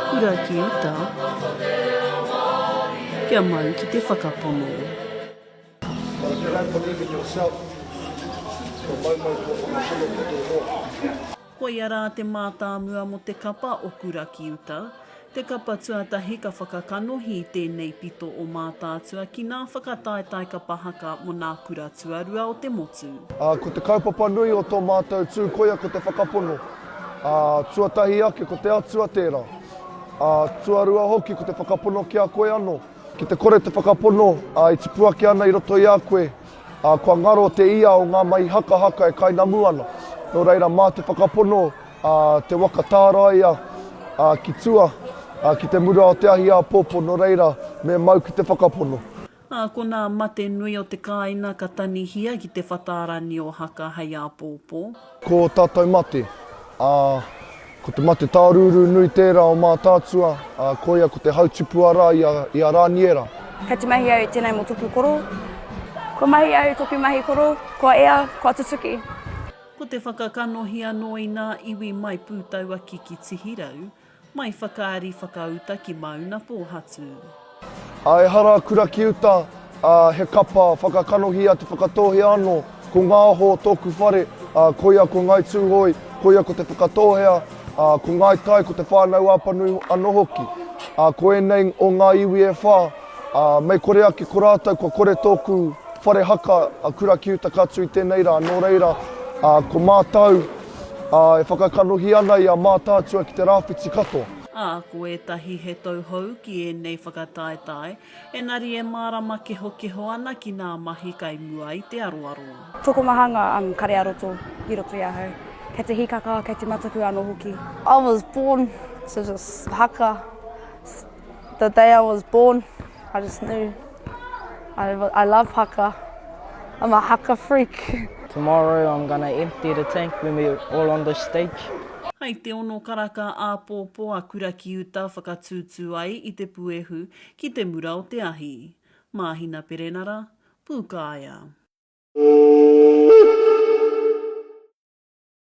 Kura ki uta, kia mau ki te whakapono. Thank you for believe in yourself Ko Maumau kua whakapono ki tō hoa. Koia rā te mātāmua mō te kapa o Kura ki uta, Te Kapa Tuatahi ka whakakanohi i tēnei pito o Mātaatua ki nā whakataetae kapa haka mō nā kura tuarua o te motu. Ā, ko te kaupapa nui o tō mātou tū koia ko te whakapono, ā, tuatahi ake ko te Atua tērā, ā, tuarua hoki ko te whakapono ki a koe anō. Ki te kore te whakapono, ā, e tipu ake ana i roto i a koe, ā, kua ngaro te ia o ngā mahi hakahaka e kainamu ana, nō reira mā te whakapono a te waka tāraia a ki tua, a ki te mura o te ahi āpōpō no reira me mau ki te whakapono. A ko nā mate nui o te kāina ka tanihia ki te whatārangi o haka hei āpōpō. Ko tātou mate, a ko te mate tārūrū nui tērā o Mātaatua, a koia ko te hautipu ara i a, i a Rāniera. Ka te mahi au tenei mo toku koro. Kua mahi au toku mahi koro, kua ea, kua tutuki. Ko te whakakanohi anō i nā iwi mai Pūtauaki ki Tihirau, mai Whakaari whakauta ki Māunapōhatu. A ehara kura ki uta, a he kapa whakakanohi a Te Whakatōhea anō. Ko Ngāho tōku whare, a koia ko Ngāi Tūhoe, koia ko Te Whakatōhea, a ko Ngāi Tai ko Te Whānau-a-Panui anō hoki. A ko ēnei o ngā iwi e whā, Ā, mei kore ake ko rātou kua kore tōku whare haka a Kura ki uta katu i tēnei rā, nō reira, ā, ko mātou, ā, e whakakanohi ana i a Mātaatua ki te rāwhiti katoa. Ā, ko ētahi he tauhou ki ēnei whakataetae, engari e mārama kehokeho ana ki ngā mahi kai mua i te aroaro. Tokomahanga ang Kare-a-roto i roto i ahau. Kei te hikaka, kei te mataku ano hoki. I was born to just haka, The day I was born, I just knew I, I love haka. I'm a haka freak. Tomorrow I'm gonna empty the tank when we all on the stage. Hai te ono karaka āpōpō a Kura ki uta whakatūtū ai i te puehu ki te mura o te ahi. Māhina Perenara, Pūkāea.